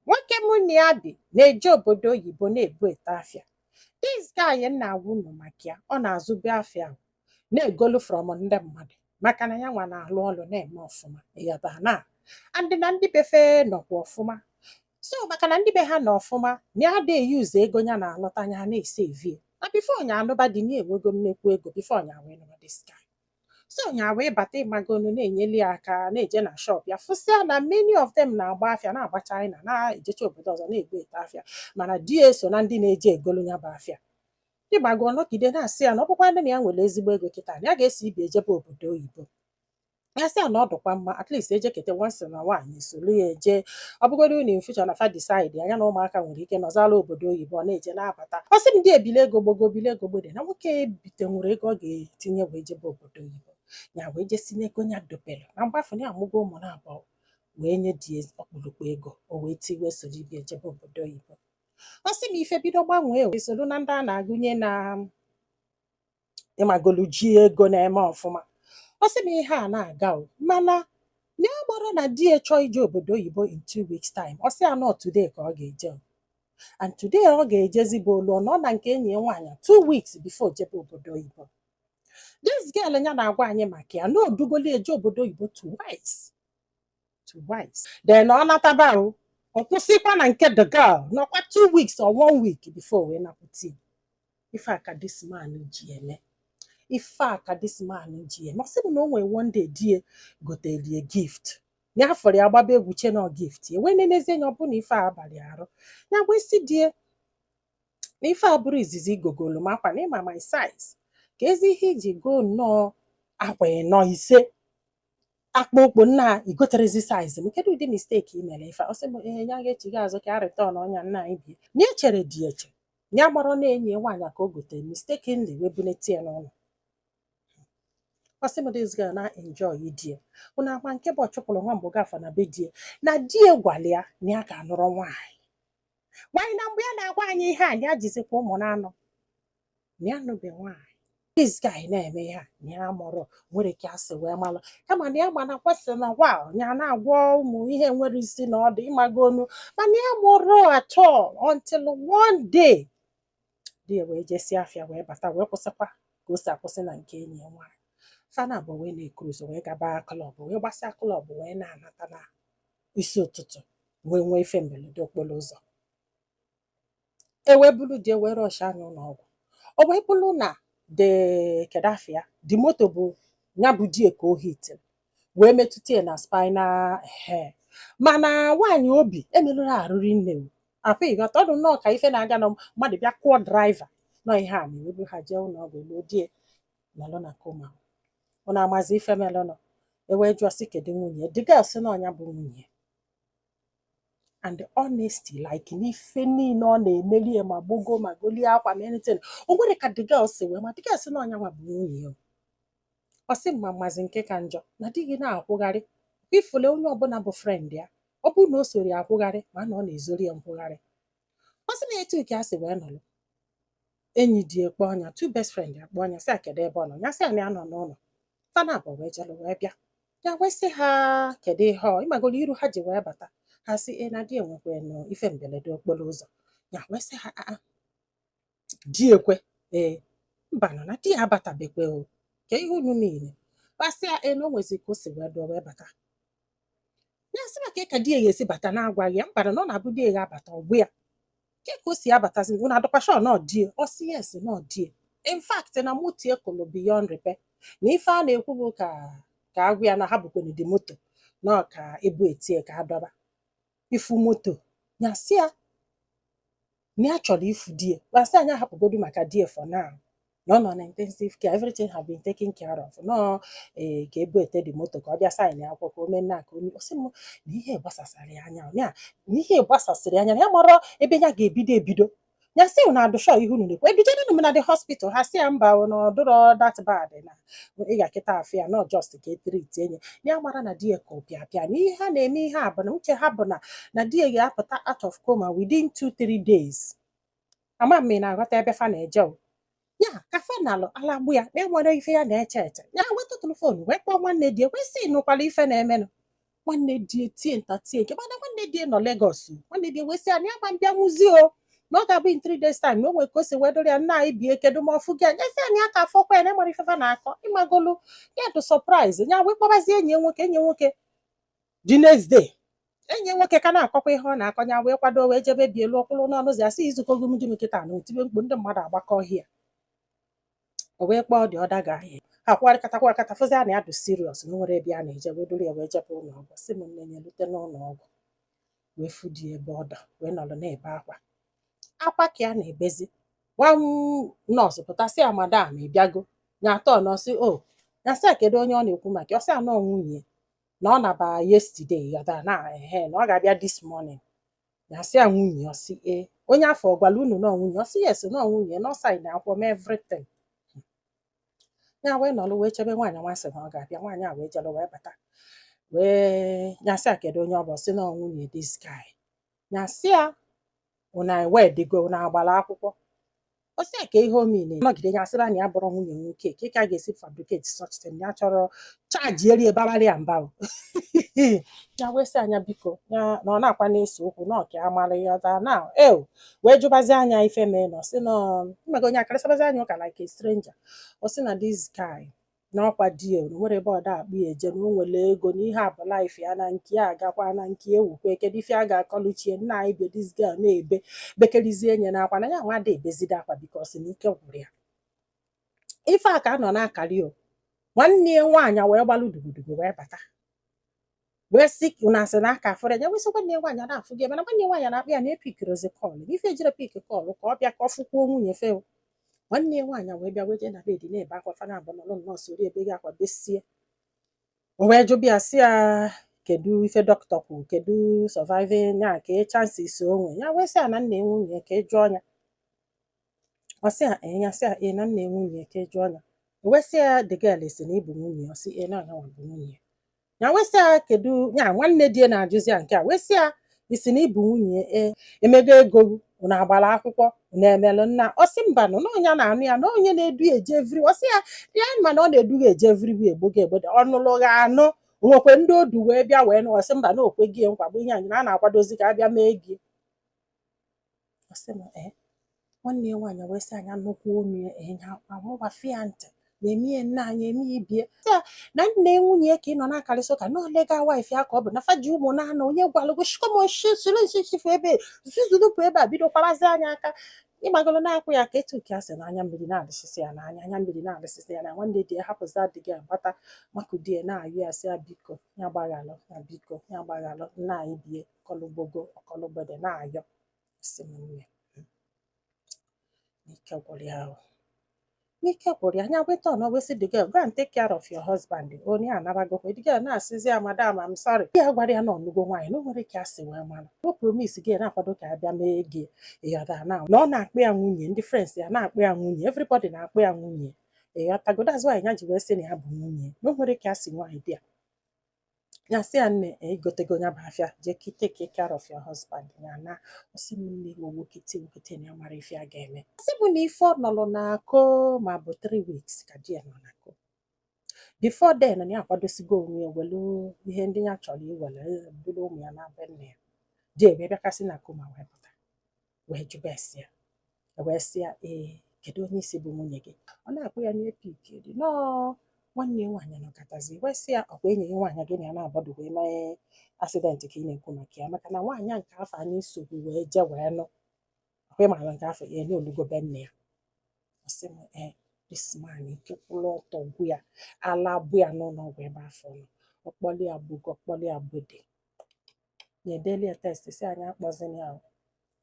nwoke mụ na ya bi na-eje obodo oyibo na-ebute afịa this guy m na-agwa unu maka ya ọ na-azụbu afịa ahụ na-egolu from ndị mmadụ maka na ya nwa na-alụ ọlụ na-eme ọfụma yaba na and na ndị be fe nọkwa ọfụma so maka na ndị be ha nọ ọfụma na ya adị e-use ego ya na-alụta ya na-esave e na before nya anụba di na enwego nnekwu ego before nya wee nụrụ this guy so nya wee bata ị mago nu na-enyeli ya aka na-eje na shop ya fụsịa na many of them na-agba afịa na-agba China na-ejecha obodo ọzọ na-ebute afịa mana di ya eso na ndị na-eje egolu ya bụ afịa ịgbago ọ nọgide na-asị ya na ọ bụkwa ndị na ya nwere ezigbo ego kịta na ya ga-eso ibe e jebe obodo oyibo ya sị ya na ọ dụkwa mma at least ejekete once na nwaanyị soro ya eje ọ bụgoro na in future na fa decide-ịa nya na ụmụaka nwere ike nọzala obodo oyibo ọ na-eje na-abata ọ sị m di e bile ego mgbago bile ego mgbede na nwoke te nwere ego ọ ga-etinye wee jebe obodo oyibo ya wee jezi n'ego ya dobere na mgbe afụ ya amụgo ụmụ na abụọ wee nye di ya ọkpụrụkpụ ego o wee ti wee soro ibe e jebe obodo oyibo ọ sị m ife bido gbanwee esoro na ndị a na-agụnye na ị magolu ji ego na-eme ọfụma ọ sị m ihe a na-aga o mana na ọ bụrụ na di ya chọọ ije obodo oyibo in two weeks time ọ sị ya na ọ today ka ọ ga-eje o. and today ọ ga-ejezi bụ olu nọ na nke enyi ya nwaanyị two weeks before jebe obodo oyibo this girl ya na-agwa anyị maka ya na o dugoli e je obodo oyibo twice twice then ọ nataba o ọ kwụsịkwa na nke the girl nọkwa two weeks or one week before wee nakwute ya. ife a ka this man ji eme ife a ka this man ji eme ọ sị m na o nwee one day di e goteli e gift ya fụrụ ya gbaba egwu che na ọ gift ya wee nenezi anya ọ bụ na ife a abarọ ya arụ ya wee sị di e na ife a abụrọ izizi i gogolu m akwa na ị ma my size keezi ihe i ji goo nnọọ akwa ịnọ ise akpa okpo na i goterozi size m kedu ụdị mistake i mere ife a? ọ sị m ee ya ga-echigha azụ ka a return-ụọ nya nwaanyị bịa na-echere di eche ya amarọ na enyi ya nwaanyị ka o gotere mistakenly wee bunete ya n'ụlọ ọ sị m this girl na-enjoy di e unu agba nke bụ ọ chụpụrụ nwa mgbe gafa na be di e na di e gwara ya na ya ka anụrọ nwaanyị nwaanyị na mgbe ya na-agwa anyị ihe a na ya jizikwa ụmụ na anọ na ya anụbe nwaanyị this guy na-eme ihe a na ya amarọ o nwere ka ya si wee malụ kama na ya ma na kwesị na wa ya na-agwọ ụmụ ihe enwerọ isi na ọdụ ị mago nu mana ya amarọ at all until one day di ya wee jesịa afịa wee bata wee kwụsịkwa ka o si akwụsị na nke enyi ya nwaanyị fa naabọ wee na-ecruise wee gaba club wee gbasịa club wee na-anata na isi ụtụtụ wee nwee ife mberede okporo ụzọ e wee bulu di e wee rush-ịa nya ụlọ ọgwụ o wee bụrụ na de kedafia the moto bụ ya bụ di e ka o hit wee metụta ya na spinal hair mana nwaanyị o bu emerụrọ arụ rinne m afọ ịghọta ọ dụ nnọọ ka ife na-aga na mmadụ bịa kụọ driver nọ ihe a na-ewebu ha jee ụlọ ọgwụ e luo di ya nọlụ na coma ọ na-amazi ife melụnụ e wee jụọ sị kedu nwunye the girl sị na ọ nya bụ nwunye and honestly like n'ife niile ọ na-emeli ya ma gbogo ma golie akwa ma anything o nwere ka the girl si wee ma the girl sị na ọ nya nwa bụ nwunye ya ọ sị m amazi nke ka njọ na di gị na-akwụgharị ifule onye ọbụla bụ friend ya ọ bụrụ na o soro ya akwụgharị ma na ọ na-ezori ya nkwụgharị ọ sị na etu ka a si wee nọrọ enyi di ya kpọọ nya two best friend ya kpọọ nya sị ya kedu ebe ọ nọ ya sị na nya nọ n'ụlọ fa naabọ wee jere wee bịa ya wee sị ha kedu ihe ọ ị magoro iru ha ji wee bata ha sị ya na di ya nwekwanụ ife mberede okporo ụzọ ya wee sị ha aa di ya kwa ee mba nọ na di ya abatabekwe o ka ihe unu niile kpasịa e na o nwezi ka o si wee dụ o wee bata ya sị maka ka di ya ga-esi bata na-agwaghị ya mba na ọ na-abụ di ya ga-abata ọ gwa ya kee ka o si abatazi unu adụkwa sure na ọ di ya ọ sị yes na ọ di ya in fact na moto ya kụlụ beyond repair na ife a na-ekwu bụ ka ka a gwa ya na ha bukwanụ the moto na ọ ka e bute ya ka a dọba ifu moto ya sị ya na ya chọrọ ifu di ya ha sị ya nya hapụgodu maka di ya for now na ọ nọ na intensive care everything have been taken care of na ọ ee ka e bute the moto ka ọ bịa sign akwụkwọ ka o mee nna ka o mee ọ sị m na ihe gbasasịrị ya anya na ya na ihe gbasasịrị ya anya na ya amarọ ebe ya ga-ebido ebido ya sị unu adụ sure ihe unu na-ekwu dujenụ m na the hospital ha sị ya mba o, na ọ dụrọ that bad na ị gaa kịta fụ ya na ọ just ka e treatie nya ya mara na di ya kụpịapịa na ihe ha na-eme ihe a bụ na uche ha bụ na na di ya ga-apụta out of coma within two three days ama m ị na-aghọta ebe fa na-eje o ya ka fa nalụ ala gbụ ya na e nwere ife ya na-eche eche ya wee tụtụrụ phone wee kpọọ nwanne di ya wee sị nụkwala ife na-emenụ nwanne di tie nta tie nke mana nwanne di nọ Lagos nwanne di wee sị ya na ya ama abịanwuzi o na ọ ga-abụ in three days time na o nwere ka o si wee dụrụ ya nna anyị bie kedu ma ọ fụgo ya nya sị na ya aka afụkwa ya na e nwere ife fa na-akọ ị magolu ya dụ surprise ya wee kpọbazie enyi ya nwoke enyi ya nwoke the next day enyi nwoke ka na-akọkwa ihe ọ na-akọ nya wee kwado wee jebe be ya luo kwụrụ n'ọnụ ụzọ ya sị i zukọgo m di m kịta na o tibe mkpu ndị mmadụ agbakọọ ya o wee kpọọ the other guy a ha kwụgharịkata kwụgharịkata fụzia na ya dị serious na o nwere ebe a na-eje wee duru ya wee jebe ụlọ ọgwụ sị m nne ya lute n'ụlọ ọgwụ wee fụ di ya ebe ọ dọ wee nọrọ na-ebe akwa akwa ka ya na-ebezikwa nọọsụ pụta sị ya madam ị bịago nya atọ nọọsụ o ya sị ya kedu onye ọ na-ekwu maka ya ọ sị ya na ọ nwunye ya na ọ naba yesterday ya da na ehe na ọ ga-abịa this morning ya sị ya nwunye ọ sị e onye afụ ọ gwara unu na ọ nwunye ọ sị yes na ọ nwunye na ọ sign akwụkwọ mee everything ya wee nọlụ wee chebe nwaanyị nwa sị na ọ ga-abịa nwaanyị a wee jelụ wee bata wee ya sị ya kedu onye ọ bụ Ọ sị na ọ nwunye this guy ya sị ya unu a wedigo unu agbara akwụkwọ ọ sị ya ka ihe ọ mean nọgide ya sịba na ya abụrọ nwunye nwoke ka ka a ga-esi fabricate such thing ya chọrọ chaji eri ebabara ya mba o. ya wee sị anya biko ya na ọ na-akwa na-ese okwu na ọka amara ya ọta na eo wee jụbazia nya ife mee na ọ sị na mmego onye a karịsabazia nya ụka like a stranger ọ sị na this guy n'ọkwa di e o nwerọ ebe ọ da akpọ ya eje na o nwere ego na ihe a bụ life ya na nke ya agakwa na nke ya ewukwe kedu ife a ga-akọlụ chi e nna anyị bịa this girl na-ebe bekerizie nye n'akwa na ya nwa ada ebezide akwa because na ike gwụrụ ya ife a ka a nọ na-akari o nwanne ya nwaanyị wee gbalụ dugudugu wee bata wee sị ka unu asị na aka afụrọ ya wee sị nwanne ya nwaanyị a na-afụ gị mana nwanne ya nwaanyị na-akpọ ya na e pikirọzi call na ife ejire pick call ka ọ bịa ka ọ fụkwuo nwunye fe o. nwanne ya nwaanyị wee bịa wee jee na bed na-ebe akwa fa naabọ nọrọ nnọọ soro ebe gị akwa besie o wee jụba ya sị ya kedu ife dọkịta kwuru kedu surviving ya ka ị chances o nwe ya wee sị ya na nna ya nwunye ka ị jụọ ya ọ sị ya ee ya sị ya ee na nna nwunye ya ka jụọ ya o wee sị ya the girl ị sị na ị bụ nwunye ya ọ sị ee na nya nwa bụ nwunye ya ya wee sị ya kedu ya nwanne di ya na-ajụzi ya nke a wee sị ya ị sị na ị bụ nwunye ya ee e mego ego unu agbara akwụkwọ unu emelụ nna ọ sị mba nụ na onye na-anụ ya na onye na-edu ya eje vri ọ sị ya ya ma na ọ na-edu ya eje vri bụ egbogo egbodo ọ nụrụ gị anụ nwekwe ndị o du wee bịa wee nụ ọ sị mba na o kwe gị nkwa bụ ihe anyị na a na-akwadozi ka a bịa mee ego ọ sị m ee nwanne ya nwaanyị wee sị anya nnukwu ọnụ ya enye akwa mụgbafe ya ntị na-eme ya nne anyị eme ya ibie ya na nne nwunye ya ka ị nọ na-akarịsị ụka na ọ legal wife ya ka ọ bụ na fa ji ụmụ na anọ onye gwalụ gị shikomoshi soro nsisifu ebe zuzurupụ ebe a bido kwabazia nya aka ịgbagoro na-akwa ya aka etu nke a sị na anya mmiri na-adasịsị ya n'anya anya mmiri na-adasịsị ya na nwanne di ya hapụzia the girl gbata makụdie na-ayọ ya sị ya biko ya gbaghalụ na biko ya gbaghalụ nna anyị bie ọkọlụgbogo ọkọlụgbede na-ayọ si m nne n'ike gwụrụ ya ahụ n'ike gwụrụ ya nya weta ọnụ wee sị the girl go and take care of your husband onye anabago the girl na-asịzi ya madam I'm sorry ya gwarọ ya na ọ nụgo nwaanyị na o nwerọ ka a si wee mara o promise gị na-akwado ka a bịa mee ego ị ghọta na na ọ na-akpọ ya nwunye ndị friends ya na-akpọ ya nwunye everybody na-akpọ ya nwunye ị ghọtago that's why ya ji wee sị na ya bụ nwunye na o nwere ka a sị nwanne di ya ya sị ya nne i gotego ya bụ afịa jee take care of your husband ya na ọsị m nne gị owo kete okete na ya mara ife a ga-eme sị mụ na ife ọ nọrọ na coma bụ 3 weeks ka di ya nọ na coma before then na ya akwadosigo onwe ya welu ihe ndị ya chọrọ iwere buru ụmụ ya na be nne ya di e bịa ka si na coma wee pụta wee jụba ese ya wee sị ya ee kedu onye ị sị bụ nwunye gị ọ na-akpọ ya n'epik di nọọ nwanne ya nwaanyị nọkọtazi wee sị ya ọkwa enyi gị nwaanyị gị na ya na-abọdụ wee mee accident ka ị na-ekwu maka ya maka na nwaanyị a nke afụ anyị so gị wee je wee nụ ọkwa ịmara nke afụ ya nalugo be nne ya ọ sị m ee this man ike kwụrụ ọtọ gwụ ya ala bụ ya n'ụlọ ọgwụ ebe afụ ọ nọ ọ kpọli ya gbago ọ kpọli ya gbeda ya edeli ya text sị anyị akpọzina ya o.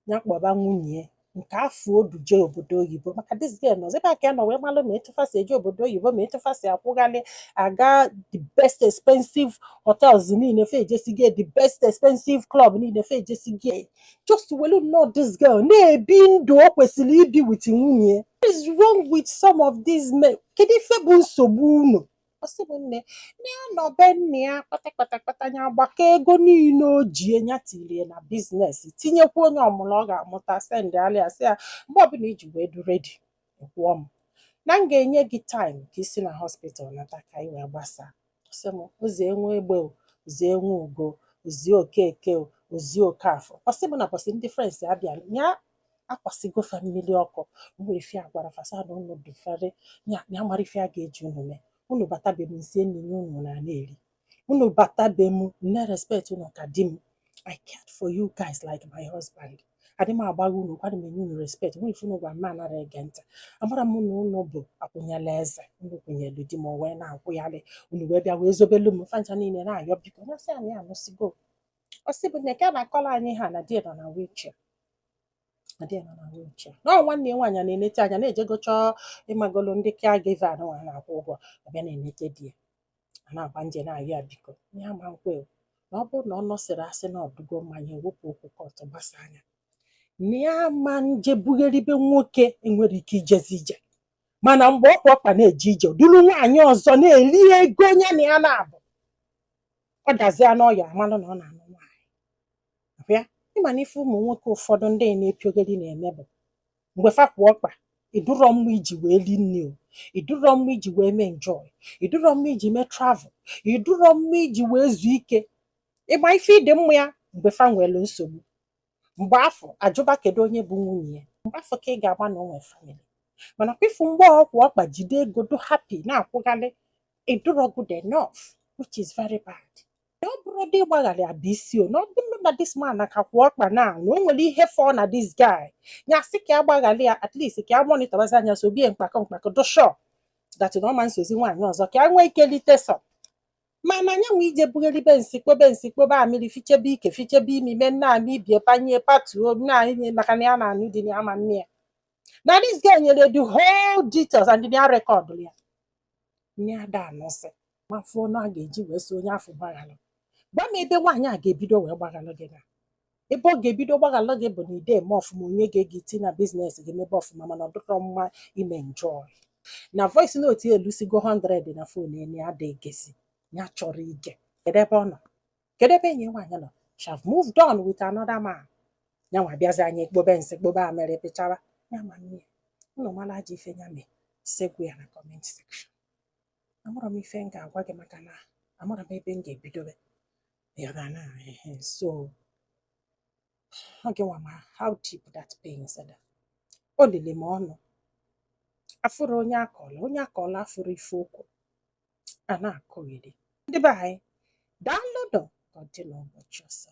ya kpọba nwunye nke afụ o duje obodo oyibo maka this girl nọzi ebe a ka ya nọ wee malụ ma etu fa si eje obodo oyibo ma etu fa si akwụghalị aga the best expensive hotels niile fa ejesigo the best expensive club niile fa ejesigo just welu nnọọ this girl na-ebi ndụ o kwesịrị ibi with nwunye what is wrong with some of these men kedu ife bụ nsogbu unu ọ sị m nne na ya nọ be nne ya kpata kpata kpata ya gbakọ ego niile o ji nya tirie na business tinyekwuo nya ọmụrụ ọ ga-amụta sendalị ya sị ya mgbe ọbụla i ji wee dị ready kwụọ m na m ga-enye gị time ka i si na hospital nata ka ị wee gbasa ọ sị m o zie Nwegbe o zie Nwugo o zie Okeke o zie Okafọ ọ sị m na ụbọsị ndị friends abịa ya akwasịgo fa mmiri ọkụ nwere ife a gwara fa sị na unu dufiere ya ya mara ife a ga-eji unu mee unu bata be m nsie nri nye unu na na-eri unu bata be m na-erespect unu ka di m I cared for you guys like my husband adị m agbagha unu okwu adị m enye unu respect nwere ife unu gwa m anara ege ntị amara m na unu bụ akwụnyela eze unu kwụnyelu di m o wee na-akwụgharị unu wee bịa wee zobelu m fa ncha niile na-ayọ biko ya sị anyị anụsigo ọ sị mụ na ka a na-akọrọ anyị ihe a na di nọ na wheelchair na di nọ na wheelchair na ọ nwanne ya nwaanyị a na-enete anya na-ejego chọọ ịmagolo ndị caregiver a nwa na-akwụ ụgwọ abịa na-enete di ya a na-agba nje na-ayọ ya biko ihe ama m kwe o. na ọ bụrụ na ọ nọsịrị asị na ọ dịgo mma nya ewepụ okwu court gbasa nya na ya ma nje bugharibe nwoke enwere ike ijezi ije mana mgbe ọ kwụ ọkpa na-eje ije duru nwaanyị ọzọ na-eli ego nya na ya naabọ ọ dazia n'ọya amalụ na ọ na-anụ nwaanyị abịa ịma na ife ụmụ nwoke ụfọdụ ndị na-epiogeri na-eme bụ mgbe fa kwụ ọkpa ị dịrọ mma iji wee li nri o ị dịrọ mma iji wee mee enjoy ị dịrọ mma iji mee travel ị dịrọ mma iji wee zuo ike ịma ife ị dị mma ya mgbe fa nwere nsogbu mgbe afụ a jụba kedu onye bụ nwunye ya mgbe afụ ka ị ga-agba na o nwe famili mana kwefu mgbe ọ kwụ ọkpa jide ego dụ happy na-akwụghalị ị dụrọ good enough which is very bad na ọ bụrụdị ịgbaghalị abụ isi o na ọ bụrụ na this man a ka kwụ ọkpa na na o nwere ihe fọ na this guy ya sị ka a gbaghalụ ya at least ka a monitọbazịa nya sobie mkpakọ mkpakọ dụ sure that na ọ ma nsozi nwaanyị ọzọ ka a nwee ike lite sọ mana nya nwa jee bugheribe nsị kpobe nsị kpobe amịrị fichebe ike fichebe imi mee nna amị ibie panye patuo nna anyị maka na ya na anụ dị na ama nne ya na this guy nyere the whole details and ya rekọdụ ya nne ada anụsị ma fụọ na a ga-eji wee sị onye afụ gbaghalụ gwa m ebe nwaanyị a ga-ebido wee gbaghalụ gị na ebe ọ ga-ebido gbaghalụ gị bụ na i de eme ọfụma onye ga-ege iti na biznes gị mebe ọfụma mana ọ dịrọ mma ime njọọ na voice note ya elusigo 100 na fon ene ada egesi ya chọrọ ige kedu ebe ọ nọ kedu ebe enyi nwaanyị nọ she have moved on with another man ya nwa bịazịa nya kpobe nsị kpobe amịrị fichara ya ma nne ụnụ mara aja ife ya mee segwu ya na comment section amarọ m ife m ga-agwa gị maka na amarọ m ebe m ga-ebidobe ya ga na ehe sọ gị nwa ma how deep that pain sada o lili m ọnụ afụrụ onye akọla onye akọla afụrụ ife okwu a na-akọgheri ndị be anyị daalụnụ ka ọ dị n'ụbọchị ọzọ